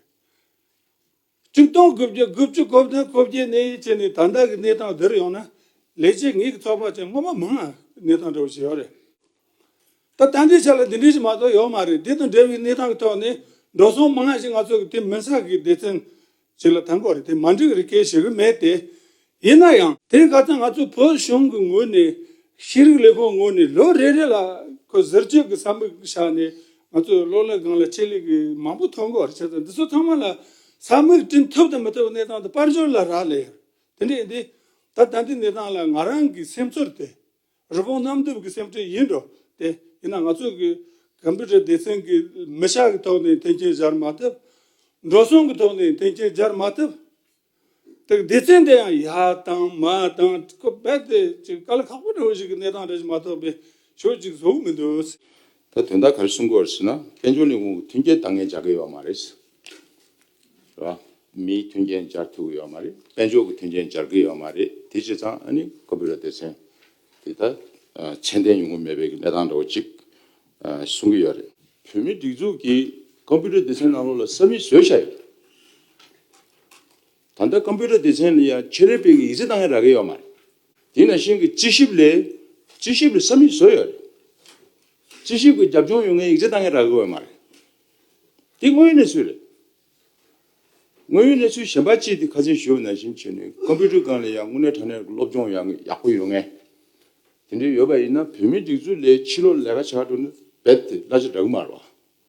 བཅུ་སྟོང་དགུ་བརྒྱ་དགུ་བཅུ་གོ་བདུན་གོ་བརྒྱད་གནས་ཡིད་བྱེད་ནི་ད་ལྟ་གི་གནས་སྟངས་འདིར་ཡོང་ན་ལས་བྱེད་ངེད་ཀྱི་ཚོགས་པ་ཅན་སྔོན་མ་མང་ང་གནས་སྟངས་འདྲ་བོ་ཞིག་ཡོད་རེད། ད་ལྟ་འདྲིས་ཆ་ལ་འདི་འདྲིས་ཞིག་མ་གཏོགས་ཡོད་མ་རེད་འདི་དང་འདྲ་བའི་གནས་སྟངས་ཀྱི་ཐོག་ནས་འགྲོ་སོང་མང་ཞིག་ང་ཚོ་གི་དེ་མིན་ས་གི་སྡེ་ཚན་ཞིག་ལ་ཐང་གོ་རེད་དེ་མ་འགྲིག་རེད་སྐད་བྱེད་གི་མེད་དེ། ཡིན་ན་ཡང་དེ་ག་ཚོད་ང་ཚོའི་བོད་གཞུང་གི་ངོས་ནས་ཤེས་རིག་ལས་ཁུངས་ངོས་ནས་ལོ་རེ་རེ་ལ་ཁོས་ཟུར་བཅོས་ཀྱི་བསམ་པ་བཞག་ནས་ང་ཚོས་གློག་ཀླད་སྒང་ལ་ཆེད་ལས་ཀྱི་མང་པོ་ཐོན་འགོ་བར་བྱེད་ཚར་འདི་ཚོ་ཚང་མ་ལ་ས་མིག་བསྐྲུན་ཐུབ་དང་མི་ཐུབ་གནས་སྟངས་དང་དཔལ་འབྱོར་ལ་རག་ལས་ཡོད་དེ་འདྲས་འདི་ད་ལྟ་འདི་གནས་སྟངས་ལ་ང་རང་གི་སེམས་ཚོར་དེ་རི་བོང་གནམ་རྡིབ་ཀྱི་སེམས་ཁྲལ་ཡིན་འགྲོ་དེ་ཡིན་ན་ང་ཚོས་གི་གམ་པུ་ཏྲ་སྡེ་ཚན་གྱི་མི་ཤག་གི་ཐོག་ནས་མཐུན་རྐྱེན་སྦྱར་མ་ཐུབ། འགྲོ་སོང་གི་ཐོག་ནས་མཐུན་རྐྱེན་སྦྱར་མ་ཐུབ། དེ་སྡེ་ཚན་དེ་ཡང་ཡ་དང་མ་དང་ཀུ་རྦད་དེ་ཅིག་ག་ལ་ཁག་པོ་འདྲ་བོ་ཞིག་གི་གནས་སྟངས་རེད་ཅེས་མ་རྟོགས་པའི་ཆོས་ཅིག་བཟོ་འོས་མི་འདུག། ད་དོན་དག་ག་རེ་གསུང་དགོས་ཟེར་ན་དཔལ་འབྱོར་ནི་དབང་བོ་མཐུན་རྐྱེན་འདང་ངེས་སྦྱར་དགོས་ཡོད་པ་མ་རེད། རེད་པ། མིའི་མཐུན་རྐྱེན་སྦྱར་ཐུབ་ཡོད་པ་མ་རེད། དཔལ་འབྱོར་གྱི་མཐུན་རྐྱེན་སྦྱར་གི་ཡོད་པ་མ་རེད། དེ་བྱས་ཙང་ཨ་ནི་ཀུ་རྦད་སྡེ་ཚན་དེ་ད་ཚད་ལྡན་ཡོང་གི་མེད་པའི་གི་གནས་སྟངས་འདྲ་བོ་ཅིག་གསུང་གི་ཡོད་རེད། བོད་མིའི་སྒྲིག་འཛུགས་ཀྱིས་ཀུ་རྦད་སྡེ་ཚན་ནང་ལོགས་ལ་ས་མིག་བཟོས་བཞག་ཡོད་རེད། ད་ལྟ་ཀམ་པུའུ་ཏར་སྡེ་ཚན་ལ་ཡང་ཁྱེད་རེ་སྤེལ་གི་ཡིག་རྩིས་གཏང་ཡ་རག་གི་ཡོད་མ་རེད། དེ་ནང་བཞིན་གི་རྩིས་ཞིབ་ལས། རྩིས་ཞིབ་ལས་ས་མིག་བཟོ་ཡོད་རེད། རྩིས་ཞིབ་གི་རྒྱབ་ལྗོངས་ཡོད་མཁན་ཡིག་རྩིས་གཏང་གི་རག་གི་ཡོད་མ་རེད། དེ་དངོས་ཡོད་གནས་ཚུལ་རེད། དངོས་ཡོད་གནས་ཚུལ་གཞན་པ་ཅིག་དེ་ཁ་ཚོན་ཞུ་བ་ནང་བཞིན་བྱས་ནས་ཀམ་པུའུ་ཏར་སྒང་ལ་ཡང་དངོས་གནས་དྲ་གནས་སློབ་སྦྱོང་ཡང་ཡག་པོ་ཡོད་ངེས། དེ་འདྲ་ཡོད་པ་ཡིན་ན་བོད་མིའི་སྒྲིག་འཛུགས་ལས་ཕྱི་ལོག་ལས་ཀ་བྱ་འགྲོ་ན་རྦད་དེ་གླ་ཆ་འདྲ་གི་མ་རེད་བ།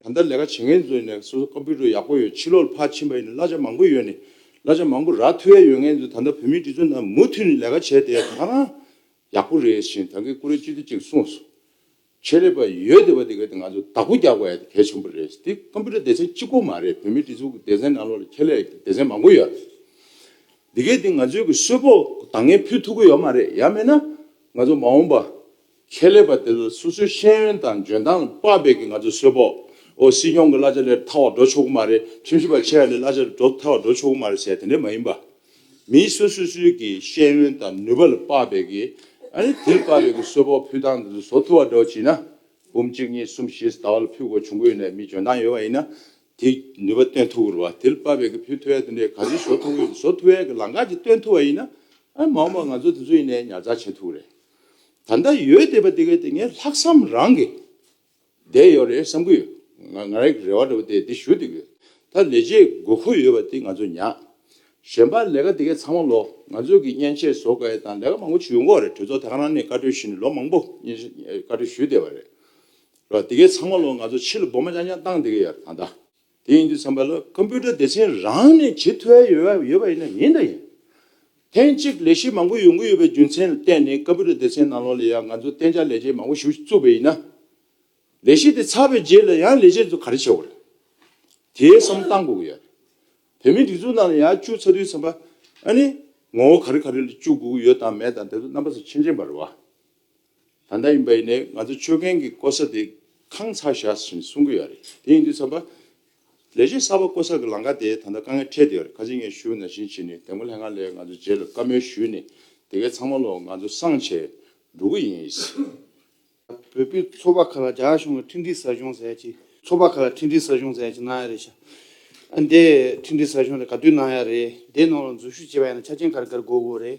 ད་ལྟ་ལས་ཀ་བྱེད་མཁན་ཚོའི་ནས་སོ་སོ་ཀོམ་པུ་ཏར་ཡག་པོ་ཡོད་ཕྱི་ལོག་ལ་ཕར་ཕྱིན་པ་ཡིན་ན་གླ་ཆ་མང་པོ་ཡོད་ནས་གླ་ཆ་མང་པོ་རག་ཐུ་ཡ་ཡོད་མཁན་ཚོས་ད་ལྟ་བོད་མིའི་སྒྲིག་འཛུགས་ནང་མུ་མཐུད་ནས་ལས་ཀ་བྱས་བསྡད་ད་ང་ཡག་པོ་རེད་ཞེས་ད་གེ་ཀུ་རེ་སྤྱི་འཐུས་གཅིག་གསུངས་སོང། ཆེད་ལས་པ་ཡོད་བསྡད་པ་དེ་ག་དེ་ང་ཚོ་བདག་པོ་རྒྱག་པ་གལ་ཆེན་པོ་རེད་དེ་ཀོམ་པུ་ཏར་སྡེ་ཚན་གཅིག་པོ་མ་རེད་བོད་མིའི་སྒྲིག་འཛུགས་ཀྱི་སྡེ་ཚན་ནང་ལོགས་ལ་ཁྱད་ལས་ཀྱི་སྡེ་ཚན་མང་པོ་ཡོད་དེ་གས་དེ་ང་ཚོའི་གི་གསོལ་ཕོགས་འདང་ངེས་ཕུལ་ཐུབ་ཀྱི་ཡོད་མ་རེད་ཡ་མེད་ན་ང་ཚོ་མ་འོངས་པ་ཁྱད་ལས་པ་དེ་ལ་སོ་སོའི་ཤེས་ཡོན་དང་འཇོན་ཐང་དཔག་སྦས་ཀྱིས་ང་ཚོ་གསོད་པོ། ཨོ་སྲིད་སྐྱོང་གི་གླ་ཆ་ལས་ཐར་བར་འགྲོ་ཆོག་གི་མ་རེད་ཁྲིམས་ཞིབ་པ་ཆེ་བ་ལས་གླ་ཆ་ལས་འགྲོ་ཐར་བར་འགྲོ་ཆོག་གི་མ་རེད་ཟེར་དེ་འདྲ་མ་ཡིན་པ། མིའི་སོ་སོ་སོའི་གི་ཤེས་ཡོན་དང་ནུས་པ་ལ་དཔག་སྦས་ཀྱིས་ཨ་རེ་དེ་ལ་དཔག་སྦས་ཀྱིས་གསོད་པོ་ཕུད་སྟངས་དེ་ཚོ་བཟོ་ཐུབ་བ་འདྲ་བ་བྱིན་ན། འབུམ་གཅིག་གཉིས་གསུམ་བཞིས་ཟླ་བ་ལ་ཕུད་དགོས་བྱུང་གི་ཡོད་ནའི་མི་འཇོན་ཐང་ཡོད་པ་ཡིན་ན། དེ་ནུས་པ་སྟོན་ཐུབ་གི་རེད་བ་དེ་ལ་དཔག་སྦས་ཀྱིས་ཕུད་ཐུབ་བས་དེ་འདྲའི་ག་ཚོད་བཟོ་ཐུབ་ཀྱི་ཡོད་བཟོ་ཐུབ་བས་ཀྱི་ལང་ཀ་གཅིག་སྟོན་ཐུབ་བ་ཡིན་ན། མ་འོངས་པར་ང་ཚོ་དེ་ཚོ་ཡིན་ནའི་ཉར་ཚགས་བྱེད་ཐུབ་གི་རེད། ད་ལྟ་ཡོད་བསྡད་པ་དེ་གའི་དེ་ངས་ལྷག་བསམ་རང་གིས་བསྡད་ཡོད་རེད་བསམ་གྱི་ཡོད། ང་ང་རང་གིས་རེ་བ་འདྲ་པོ་དེ་དེ་ཞུ་བསྡད་ཀྱི་ཡོད། ད་ལས་བྱེད་དགོས་མཁོ་ཡོད་པ་དེ་ང་ཚོས་ཉག་གཞན་པ་ལས་ཀ་དེ་གའི་ཚང་མ་ལོ་ང་ཚོས་ཀྱི་མཉེན་ཆས་བཟོ་དགའི་དང་ལས་ཀ་མང་པོ་བྱུས་ཡོང་གོ་རེད་གྲོས་ཚོགས་དེ་ག་རང་ནས་བཀའ་གྲོས་བཞིན་ལོ་མང་པོ་མཉེན་ཆས་བཀའ་གྲོས་ཞུས་བསྡད་པ་རེད། རེད་བ་དེ་གའི་ཚང་མ་ལོ་ང་ཚོ་ཕྱི་ལ་སྦོ་མ་ཅང་ཅང་བཏང་བསྡད་ཀྱི་ཡོད་རེད་ད་ལྟ། དེ་ཡིན་དུས་བསམ་པ་ལ་ཁམ་ཕུ་ཀྲ་སྡེ་ཚན་རང་ནས་ཇི་ཐུ་ཨེ་ཡོད་པ་ཡིན་ན་ཡིན་དང་ཡིན། ཐེངས་གཅིག་ལས་གཞི་མང་པོ་ཡོང་གི་ཡོད་པའི་རྒྱུ་མཚན་ལ་བརྟེན་ནས་ཁམ་ཕུ་ཀྲ་སྡེ་ཚན་ནང་ལོགས་ལ་ཡང་ང་ཚོ་གཏན་འཇགས་ལས་བྱེད་མང་པོ་ཞུ་བཅུག་པ་ཡིན་ན། ལས་གཞི་དེ་ཚར་བའི་རྗེས་ལ་ཡང་ལས་བྱེད་ཚོ་ག་རེ་བྱེད་དགོས་རེད། དེའི་བསམ་བཏང་དགོས་ཀྱི་ཡོད་རེད། བོད་མིའི་སྒྲིག་འཛུགས་ནང་ལ་ཡང་བཅུག་ཚར་དུས་བསམ་པ་ཨ་ནི་ངོ་བོ་ག་རེ་ག་རེ་ལ་བཅུག་དགོས་ཀྱི་ཡོད་དང་མེད་དང་དེ་ཚོ་རྣམ་པ་ཚོ་ཕྱིན་ཅི་མ་རེད་བ། ད་ལྟ་ཡིན་པ་ཡིན་ནའི་ང་ཚོ་སྤྱོད་མཁན་གྱི་ལྐོ་ས་དེ་ཁང་ཚ་བཞག་བཞིན་གསུང་གི་ཡོད་རེད་དེ་ཡིན་དུས་ཚགས་པ། ལས་བྱེད་གསར་པ་བསྐོ་ས་གི་ལང་ཀ་དེ་ད་ལྟ་དཀའ་ངལ་འཕྲད་བསྡད་ཡོད་རེད་ཁ་ཆེ་ངས་ཞུ་ན་བཞིན་བྱས་ནས་དེ་མགོ་ལྷད་ང་ལས་ང་ཚོ་རྗེས་ལ་བཀའ་མོལ་ཞུས་ནས་དེ་གའི་ཚང་མ་ལོ་ང་ཚོ་སང་བྱས་འགྲོ་གི་ཡིན་ཨིས། བོད་པའི་ཚོ་པ་ཁག་ལ་རྒྱ་གཞུང་གི་འཕྲིན་སྒྲིག་ས་གཞུང་ཟེར་ཡ་ཅིག་ཚོ་པ་ཁག་ལ་འཕྲིན་སྒྲིག་ས་གཞུང་ཟེར་ཡ་ཅིག་གནང་ཡ་རེད་ཤག་ཨ་འདའི་འཕྲིན་སྒྲིག་ས་གཞུང་རེད་ག་དུས་གནང་ཡ་རེད་དེའི་ནང་ལ་འཛུལ་ཞུགས་བྱས་པ་ཡིན་ན་ཆ་རྐྱེན་ག་རེ་ག་རེ་དགོས་དགོས་རེད།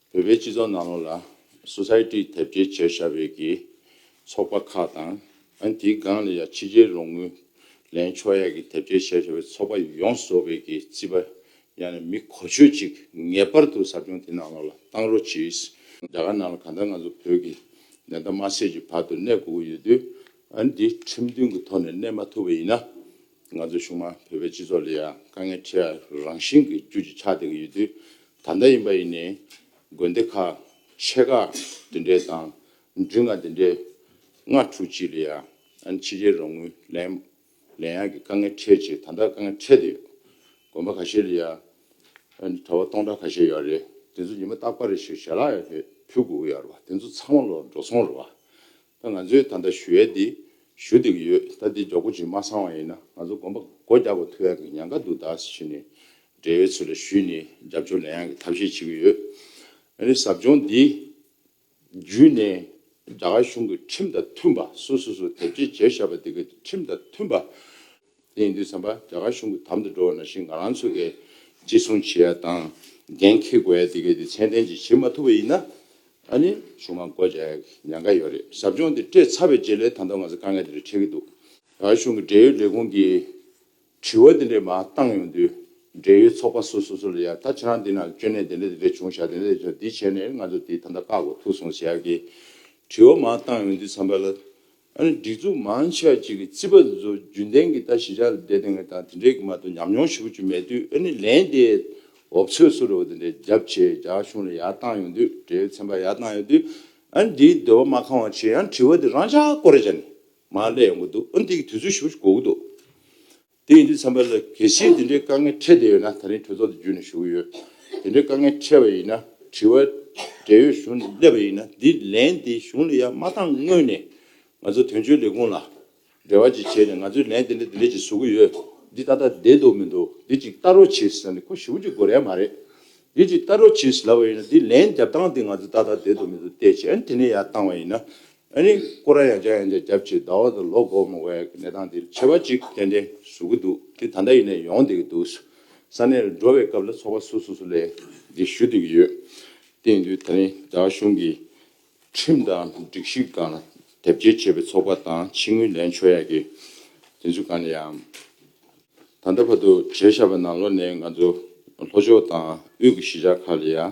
བོད་པའི་སྤྱི་ཚོགས་ནང་ལོགས་ལ Society དེབ་སྐྱེལ་བྱེད་ཤར་བས་ཀྱི་ཚོགས་པ་ཁག་དང། ཨ་དེའི་སྒང་ལ་ཡང་ཕྱི་རྒྱལ་རོང་ངུ་ལན་ཆོག་ཡག་གི་དེབ་སྐྱེལ་བྱེད་ཤར་བའི་ཚོགས་པ་ཡོངས་བཟོ་བས་ཀྱི་རྩིས་པ་ཡང་ན་མི་གོ་ཆོད་ཅིག་ངེས་པར་དུ་ཟབ་སྦྱོང་དེ་ནང་ལོགས་ལ་བཏང་རོགས་གྱིས། རྒྱ་གར་ནང་ལ་གང་ལྟར་ང་ཚོ་བོད་ཀྱི་ནད་བརྟག་མ་བྱས་ཀྱི་བར་དུ་གནས་དགོས་ཀྱི་ཡོད་དུས་ཨ་འདི་ཁྲིམས་མཐུན་གྱི་ཐོག་ནས་གནས་མ་ཐུབ་པ་ཡིན་ན། ང་ཚོ་གཞུང་མང་བོད་པའི་སྤྱི་ཚོགས་ལ་ཡང་དཀའ་ངལ་འཕྲད་ཡ་རང་བཞིན་གྱི་རྒྱུ་གཅིག་ཆགས་བསྡད་ཀྱི་ཡོད་དུས། ད་ལྟ་ཡིན་པ་ཡིན་ནས་དགོན་སྡེ་ཁག་ཆེ་ཁག་འདི་འདྲའི་དང་འབྲུ་ལྔ་འདི་འདྲའི་སྔ་དྲོ་གཅིག་ལ་ཡང་ཕྱི་རྒྱལ་རོགས་དངུལ་ལེན་ལེན་ཡག་གི་དཀའ་ངལ་འཕྲད་ཅེས་ད་ལྟ་དཀའ་ངལ་འཕྲད་དུ་ཡོད། དགོན་པ་ག་ཤེད་ལ་ཡང་གྲྭ་བ་སྟོང་ཕྲག་ཁ་ཤེད་ཡོད་རེད་དེ་ཚོ་ཉི་མ་རྟག་པར་ཞིག་ཞལ་ལག་ཡོད་ལྷད་ཕུལ་དགོས་ཡོད་རེད་པ་དེ་ཚོ་ཚང་མ་ལོག་འགྲོ་སོང་རེད་པ་ད་ང་ཚོས་ད་ལྟ་ཞུ་ཡས་འདི་ཞུ་འདོད་ཀྱི་ཡོད་ད་འདི་འཇོག་གོ་ཅིག་མ་སང་བ་ཡིན་ན་ང་ཚོ་དགོན་པ་སྒོ་རྒྱག་པ་ཐུ་ཡག་གི་ཉན་ཁ་འདུག་ད་ཕྱི་ནས་འབྲེལ་བའི་ཚུལ་ལ་ཞུས་ནས་རྒྱབ་སྐྱོར་ལེན་ཡག་གི་ཐབས་ཤེས་བྱེད་ཀྱི་ཡོད། ཨ་རིའི་ཟབ་སྦྱོང་འདི་བརྒྱུད་ནས་རྒྱ་གར་གཞུང་གི་ཁྲིམས་དང་མཐུན་པ་སུ་སུ་སུ་དེབ་སྐྱེལ་བྱས་བཞག་པ་དེ་གི་ཁྲིམས་དང་མཐུན་པ། དེ་ཡིན་དུས་བསམ་པ་རྒྱ་གར་གཞུང་གི་དམ་དུ་འགྲོ་བ་ན་ཞིག་ང་རང་ཚོ་གི་གཅེས་སྲུང་བྱེད་ཡ་དང་འགན་འཁེལ་དགོས་ཡ་དེ་གི་དེ་ཚད་ལྡན་ཅིག་བྱེད་མ་ཐུབ་པ་ཡིན་ན་ཨ་ནི་གཞུང་མང་བསྐོ་བྱ་ཡག་གི་ཉན་ཁ་ཡོད་རེད་ཟབ་སྦྱོང་འདི་སྤྲད་ཚར་བའི་རྗེས་ལས་ད་ལྟ་ང་ཚོ་དཀའ་ངལ་དེ་རིགས་འཕྲད་ཀྱི་འདུག་རྒྱ་གར་གཞུང་གི་འབྲེལ་ཡོད་ལས་ཁུངས་ཀྱིས་དྲི་བ་དེ་འདྲས་མ་བཏང་ཡོང་དུས། འབྲེལ་ཡོད་ཚོགས་པ་སོ་སོ་སོ་ལ་ཡང་ད་ཁྱེད་རང་འདི་ན་སྐྱོན་གནད་དེ་འདྲ་དེ་འདྲ་བྱུང་བཞག་དེ་འདྲ་དེ་བྱུང་འདི་བྱས་ནས་ང་ཚོ་དེ་ད་ལྟ་བཀག་གོ་ཐུག་སོང་ཟེར་ཡག་གི། དྲི་བ་མ་བཏང་ཡོང་དུས་ཚང་པ་ལ། ཨ་ནི་སྒྲིག་འཛུགས་མང་ཆེ་བ་གཅིག་གི་རྩིས་པ་བཟོ་རྒྱུན་ལྡན་གྱི་ལྟ་ཞིབ་བྱ་ལ་བསྡད་དེ་འང་དང་དེ་འདྲས་ཀྱི་མ་གཏོགས་ཉམས་མྱོང་ཞིབ་པོ་བཅུ་མེད་དུས་ཨ་ནི་ལན་དེ་འོབས་ཚོད་སུ་རེ་བ་དེ་འདྲས་རྒྱབ་ཆེ་རྒྱག་གཞུང་ལ་ཡར་བཏང་ཡོང་དུས་འབྲེལ་ཡོད་ཚན་པར་ཡར་བཏང་ཡོང་དུས། ཨ་ནི་དེའི་སྡོད་པ་མ་ཁང་བ་ཆེ་ཡང་དྲི་བ་དེ་རང་ཅག་ཀོ་རེ་བྱ་ནས་མ་ལས་ཡོང་གི་འདུག་ཨུ་འདི་གི་དུས་ཚོད་ཞུ་ཞུ་གོ་གི་འདུག་དེ་ཡིན་དུས་ཚན་པ་ལ་གལ་སྲིད་དེ་འདྲའི་དཀའ་ངལ་འཕྲད་བསྡད་ཡོད་ན་ད་རིང་གྲོས་ཚོགས་འདི་བརྒྱུད་ནས་ཞུ་གི་ཡོད་དེ་འདྲའི་དཀའ་ངལ་འཕྲད་པ་ཡིན་ན་དྲི་བ་འབྲེལ་ཡོད་གཞུང་ནས་སླེབས་པ་ཡིན་ན་འདི་ལན་འདི་གཞུང་ལ་ཡར་མ་བཏང་སྔོན་ནས་ང་ཚོ་དོན་གཅོད་ལས་ཁུངས་ལ་འབྲེལ་བ་ཅིག་བྱས་ནས་ང་ཚོས་ལན་དེ་འདྲ་དེ་འདྲ་ཅིག་བཟོ་གི་ཡོད་འདི་ད་ལྟ་བསྡད་འདུག་མི་འདུག་འདི་ཅིག་ལྟ་རོགས་གྱིས་ཟེར་ནས་ཁོ་ཞུ་གི་དགོས་རན་མ་རེད་འདི་ཅིག་ལྟ་རོགས་གྱིས་ལབ་པ་ཡིན་ན་འདི་ལན་རྒྱབ་སྟངས་འདི་ང་ཚོས་ད་ལྟ་བསྡད་འདུག་མི་འདུག་བལྟས་བྱས་ཨ་ནི་དེ་ནས་ཡར་བཏང་བ་ཡིན་ན་ཨ་ནི་ཀོ་ར་ཡ་ཅག་ཡང་བསྐྱར་རྒྱབ་ཕྱིར་ཟླ་བ་དང་ལོ་གོ་མ་བའི་གནས་སྟངས་འདིར་ཆེ་བ་ཅིག་ཏན་ཏན་བཟོ་གི་འདུག་དེ་ད་ལྟ་ཡིན་ནས་ཡོང་བསྡད་ཀྱི་འདུག་ས་གནས་རུ་འགྲོ་བའི་སྐབས་ལ་ཚོགས་པ་སོ་སོ་སུ་ལས་འདི་ཞུ་སྡོད་ཀྱི་ཡོད། དེ་ཡིན་དུས་ད་རིང་རྒྱ་གཞུང་གིས་ཁྲིམས་དང་སྒྲིག་གཞི་གང་ལ་དེབ་སྐྱེལ་བྱས་པའི་ཚོགས་པ་དང་ཕྱི་དངུལ་ལེན་ཆོག་ཡག་གི་དེ་ཚོ་གང་ནས་ཡང་ད་ལྟ་བར་དུ་བྱས་བཞག་པ་ནང་ལོ་ནས་ང་ཚོ་ལྷོ་ཕྱོགས་དང་དབུས་ཀྱི་གཞིས་ཆགས་ཁག་ལ་ཡང་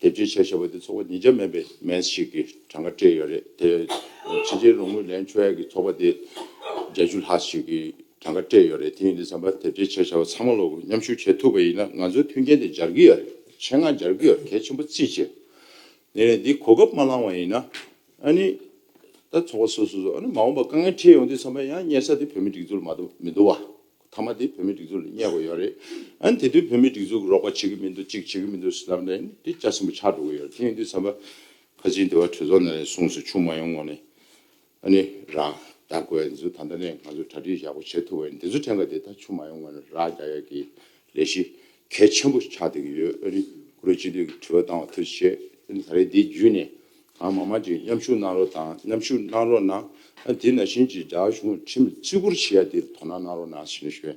དེབ་སྤྱི་བྱས་ཞེས་པ་དེ་ཚོགས་པ་ཉིས་བརྒྱ་མན་པའི་མན་ཞིག་གི་གྲངས་ཀ་སྤྲད་ཡོད་རེད་དེ། ཕྱི་རྒྱལ་རོང་མུས་ལན་ཆོས་ཡག་གི་ཚོགས་པ་དེ་བརྒྱད་ཅུ་ལྷག་ཞིག་གི་གྲངས་ཀ་སྤྲད་ཡོད་རེད་དེ་ཡིན་དུས་བསམ་པ་དེབ་སྤྱི་བྱས་ཞེས་པ་ཚང་མ་ལོག་མཉམ་ཞུགས་བྱེད་ཐུབ་པ་ཡིན་ན་ང་ཚོའི་མཐུན་རྐྱེན་དེ་སྦྱར་གི་ཡོད་རེད་ཆེད་མངགས་སྦྱར་གི་ཡོད་གལ་ཆེན་པོ་རྩིས་བྱས་ནས་རེད་འདི་གོ་སྐབས་མ་བླངས་བ་ཡིན་ན་ཨ་ནི། ད་ཚོགས་པ་སོ་སོ་སོ་ཨ་ནི་མ་འོངས་པ་དཀའ་ངལ་འཕྲད་ཡོང་དུས་བསམ་པ་ཡང་རྙེད་ས་དེ་བོད་མི་སྒྲིག་འཛུགས་ལ་མ་གཏོགས་མི་འདུག་བ། ཐ་མ་དེ་བོད་མིའི་སྒྲིག་འཛུགས་ལ་བསྙད་དགོས་ཡོད་རེད། ཨན་དེ་དུས་བོད་མིའི་སྒྲིག་འཛུགས་རོགས་པ་བྱེད་གི་མི་འདུག་ཅིག་བྱེད་གི་མི་འདུག་ཟེར་ནའི་ནས་དེ་སྐྱ་སེང་བུ་ཆགས་འགྲོ་གི་ཡོད་རེད་དེ་ཡིན་དུས་ས་བ་ཁ་ཆེའི་འདི་བ་གྲོས་ཚོགས་ནས་གསུངས་སོ་ཆུང་མ་ཡོང་ངོ་ནས་ཨ་ནི་རག་རྡ་གོ་ཨེ་འཛུ་ད་ལྟ་ནས་ང་ཚོ་གྲ་སྒྲིག་ཡག་པོ་བྱེད་ཐུབ་བ་ཡིན་དེ་ཚོ་ཕྲན་ག་དེ་ད་ཆུང་མ་ཡོང་ངོ་ནས་རག་རྒྱ་ཡག་གི་ལས་གཞི་གལ་ཆེན་པོ་ཆགས་སྡོད་ཀྱི་ཡོད་ཨ་ནི་ཀུ་རེ་གཅིག་སྡོད་ཀྱི་དྲི་བ་བཏང་བ་ཐུགས་རྗེ་ཆེ་ཨ་ནི་ད་རེས་འདི་བརྒྱུད་ནས་ཨ་མ་མ་ཅིག་མཉམ་ཞུགས་གནང་རོགས་དང་མཉམ་ཞུགས་གནང་རོགས་གནང། དེ་ན་བཞིན་ཅིག་དགྲ་གཞུང་ཁྲིམས་བརྩི་བཀུར་བྱེད་ཡ་དེ་དོ་ན་གནང་རོགས་གནང་ཞེས་ཞུ།